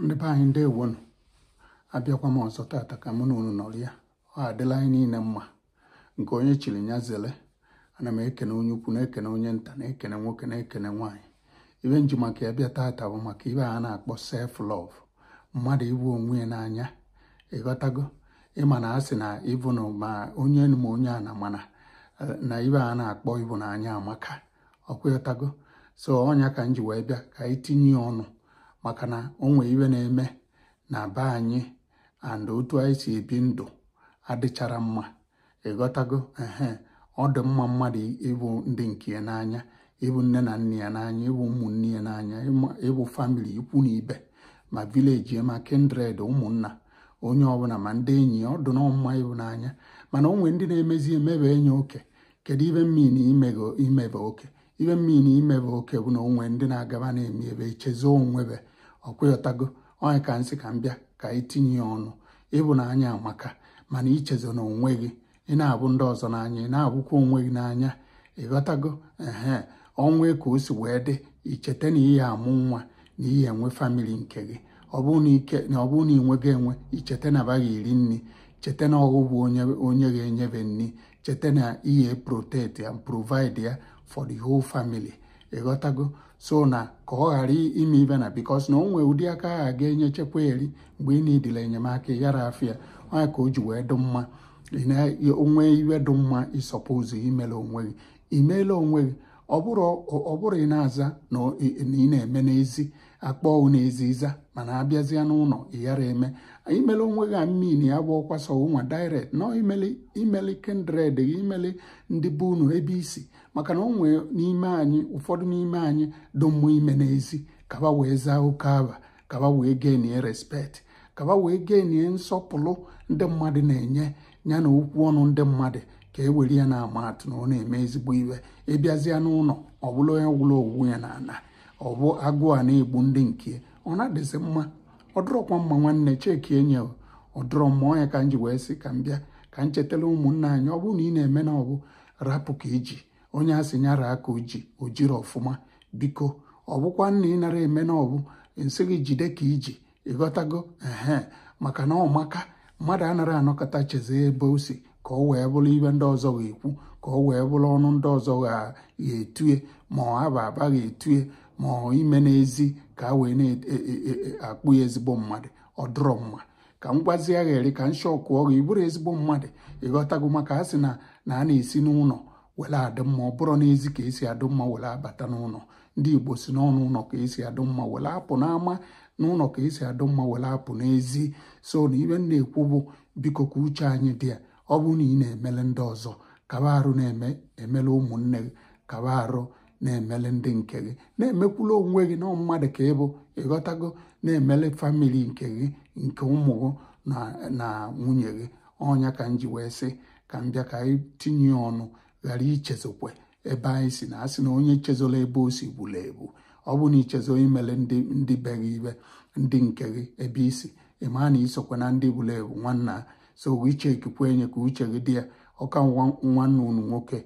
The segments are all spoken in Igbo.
ndị be anyị ndewonụ abịakwa m ọzọ tata ka mụ na unu nọrịa ọ ga-adịrị anyị niile mma nke onye chiri ya zere ana m ekene onye ukwu na-ekene onye nta na-ekene nwoke na-ekene nwaanyị ibe m ji maka ya bịa tata bụ maka ibe a na-akpọ self love mmadụ ịbụ onwe ya n'anya ịghọtago ịma na a sị na ịbụ na ma onye enu ma onye ana mana na ibe a na-akpọ ịbụ n'anya amaka ọkwa ịghọtago so ọ nya ka m ji wee bịa ka anyị tinye ya ọnụ maka na o nwee ibe na-eme na be anyị and otu anyị si ebi ndụ adịcharọ mma ịghọtago ehe ọ dị mma mmadụ ịbụ ndị nke ya n'anya ịbụ nne na nna ya n'anya ịbụ ụmụnne ya n'anya ịbụ famili ikwu na ibe ma vileji ma kindred ụmụnna onye ọbụla ma ndị enyi ya ọ dị nọọ mma ịbụ n'anya mana o nwee ndị na-emezi emebe enye oke kedu ibe m mean na imego imebe oke ibe m mean na imebe oke bụ na o nwee ndị na-agaba na-eme ebe echezo onwe be ọkwa ịghọtago ọ nya ka m sị ka m bịa ka anyị tinye ya ọnụ ịbụ n'anya amaka mana echezona onwe gị ị na-abụ ndị ọzọ n'anya ị na-abụkwa onwe gị n'anya ịghọtago ehe ọnwa ka o si wee dị icheta na ị ya-amụ nwa na ị ya-enwe famili nke gị ọ bụrụ na ike na ọ bụrụ na ị nweghị enwe icheta na aba ga-eri nri cheta na ọ gị bụ onye onye ga-enye be nri cheta na ị ya protect and provide ya for the whole family ịghọtago so na ka ọ ghara ime ibe na because na o nwee ụdị aka a ga-enye chekwa eri mgbe ị needịrị enyemaka yara afịa ọ nya ka o ji wee dụ mma o nwee ibe dụ mma ị suppose imele onwe gị imele onwe gị ọ bụrọ ị na-aza na ị na-eme n'ezi akpọọ gị n'ezi ị za mana abịazịa n'ụlọ ịghara eme imele onwe gị I mean ya bụ ọkwa sọ nwa direct na imele imele kindred gị imele ndị be unu ebe i si maka na o nwee n'ime anyị ụfọdụ n'ime anyị dị mmụ ime n'ezi ka aba wee zaa oke aba ka aba wee gainie respect ka aba wee gainie nsọpụrụ ndị mmadụ na-enye ya na okwu ọnụ ndị mmadụ ka e were ya na-ama atụ na ọ na-eme ezigbo ibe ịbịazịa n'ụlọ ọ bụrụ onye gwụrụ owu ya na ana ọ bụ agụụ a na-egbu ndị nke ya ọ na-adịzi mma ọ dụrọkwa mma nwanne checkie nya ọ dụrọ mma ọ nya ka m ji wee sị ka m bịa ka m chetara ụmụnna anyị ọ bụrụ na ị na-eme na ọ bụ rapụ ka i ji onye a sị nya raa ka o ji o jirọ ọfụma biko ọ bụkwanụ na ị narọ eme na ọbụ m sị gị jide ka i ji ịghọtago ehe maka na ọ maka mmadụ anaghị anọkata chezọ ebe o si ka ọ wee bụrụ ibe ndị ọzọ ga-ekwu ka ọ wee bụrụ ọnụ ndị ọzọ ga-etue ma ọ aba aba ga-etue ma ọ ime n'ezi ka a wee na-akpọ ya ezigbo mmadụ ọ dụrọ mma ka m gwazie ya chere ka m shockụọ gị ị bụrọ ezigbo mmadụ ịghọtago maka a sị na na a na-esi n'ụlọ were adị mma ọ bụrọ n'ezi ka e si adị mma were abata n'ụlọ ndị igbo sị na ọ n'ụlọ ka esi adụ mma were apụ n'ama n'ụlọ ka esi adụ mma were apụ n'ezi so na ibe na-ekwu bụ biko ka uche anyị dị ya ọ bụrụ na ị na-emele ndị ọzọ kaba arụ na-eme emele ụmụnne gị kaba arụ na-emele ndị nke gị na-emekwulu onwe gị na mmadụ ka ị bụ ịghọtago na-emele family nke gị nke ụmụ gị na nwunye gị ọ nya ka m ji wee sị ka m bịa ka anyị tinye ọnụ ghara ichezọkwa ebe anyị si na a sị na onye chezọrọ ebe o si furu efu ọ bụ na i chezọọ imele ndị ndị be gị ibe ndị nke gị ebe i si ị maa na i sokwa na ndị furu efu nwanna so iche ekikwe enye ka uche gị dị ya ọ kwa nwa nwanne unu nwoke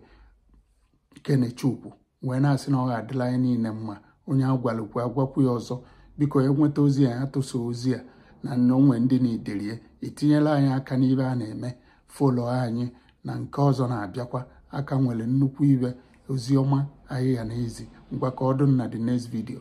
kenechukwu wee na-asị na ọ ga-adịlị anyị niile mma onye a gwalụ kwe a gwakwu ya ọzọ biko onye nweta ozi a ya tụsa ozi a na nnọnwe ndị na-idelie i tinyela anyị aka n'ibe a na-eme follow anyị na nke ọzọ na-abịakwa a ka nwere nnukwu ibe ozi ọma anyị ga na-ezi ngwa ka ọ dụ na the next video